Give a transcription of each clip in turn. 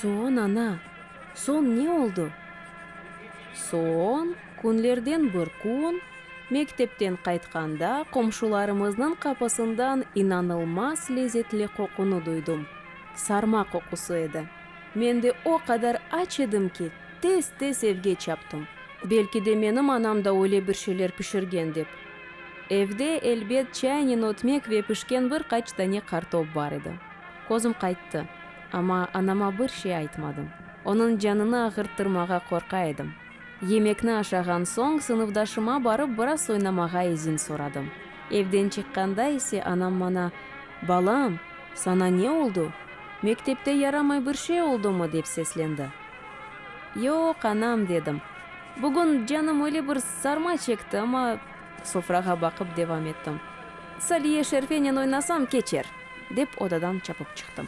Soon, ana, soon ne oldu? Soon, künlerden bir kün. Mektepten qaytqanda, qomşularımıznıñ qapısından inanılmaz lezetli qoqunı duydım. Sarma qoqusı edi. Men de o qadar aç edim ki, tez-tez evge çaptım. Belki de menim anam da öyle bir şeyler pişirgen dep. Evde, elbet, çaynen ötmek ve pişken bir qaç dane qartop bar edi. Közüm qayttı. Amma anama bir şey aytmadım. Onıñ canını ağırttırmağa qorqa edim. Yemekni aşağan soñ, sınıfdaşıma barıp biraz oynamağa izin soradım. Evden çıqqanda ise anam mana, Balam, sana ne oldu? Mektepte yaramay bir şey oldumı? dep seslendi. Yoq, anam, dedim. Bugün canım öyle bir sarma çekti, amma. Sofrağa baqıp devam ettim. Saliye Şerfenen oynasam, keçer! dep odadan çapıp çıqtım.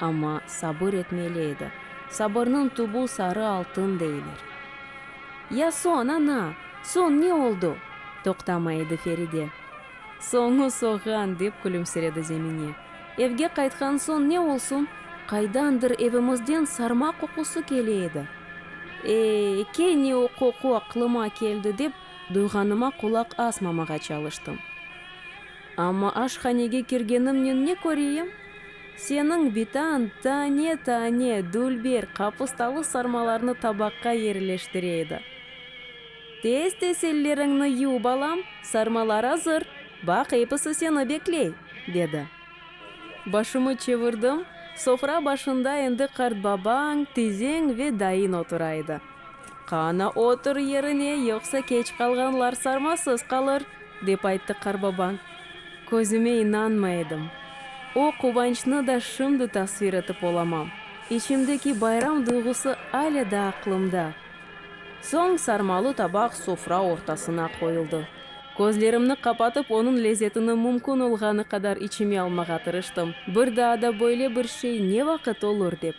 Amma sabır etmeli edi. Sabırnıñ tübü sarı altın deyler. Ya soñ, ana, soñ ne oldu? toqtamay edi Feride. Soñu soğan, dep külümsiredi Zemine. Evge qaytqan soñ ne olsun, qaydandır evimizden sarma qoqusı kele edi. Ey, kene o qoqu aqlıma keldi, dep duyğanıma qulaq asmamağa çalıştım. Amma aşhanege kirgenimnen ne köreyim? Seniñ bitan tane-tane dülber qapustalı sarmalarnı tabaqqa yerleştire edi. Tez-tez elleriñni yuv, balam, sarmalar azır, baq, episi seni bekley, dedi. Başımı çevirdim, sofra başında endi qartbabañ, tizeñ ve dayıñ otura edi. Qana, otur yerine, yoqsa keç qalğanlar sarmasız qalır, dep ayttı qarbaban. Közüme inanmay edim. O quvançnı da şimdi tasvir etip olamam. İçimdeki bayram duyğusı ale da aqlımda. Soñ sarmalı tabaq sofra ortasına qoyuldı. Közlerimni qapatıp, onıñ lezetini mümkün olğanı qadar içime almağa tırıştım. Bir daa da böyle bir şey ne vaqıt olur, dep.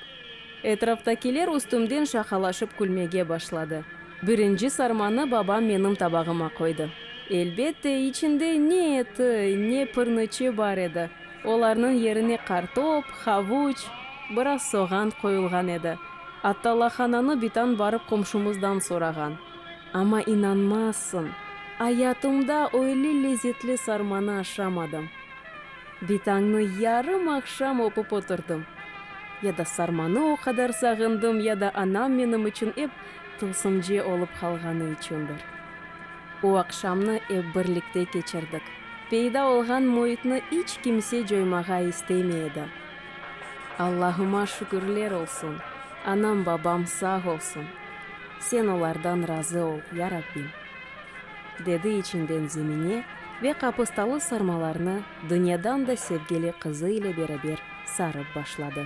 Etraftakiler üstümden şaqalaşıp külmege başladı. Birinci sarmanı babam menim tabağıma qoydı. Elbette, içinde ne eti, ne pırnıçı bar edi. Olarnıñ yerine qartop, havuç, biraz soğan qoyulğan edi. Atta lahananı bitan barıp qomşumızdan sorağan. Amma inanmazsıñ, ayatımda öyle lezetli sarmanı aşamadım. Bir tañnı yarım aqşam oqup oturdım. Ya da sarmanı o qadar sağındım, ya da anam menim içün ep tılsımce olıp qalğanı içündir. O aqşamnı ep birlikte keçirdik. Peyda olğan müitni iç kimse coymağa istemey edi. Allahıma şükürler olsun, anam-babam sağ olsun. Sen olardan razı ol, ya Rabbim! dedi içinden Zemine ve qapostalı sarmalarnı dünyadan da sevgili qızı ile beraber sarıp başladı.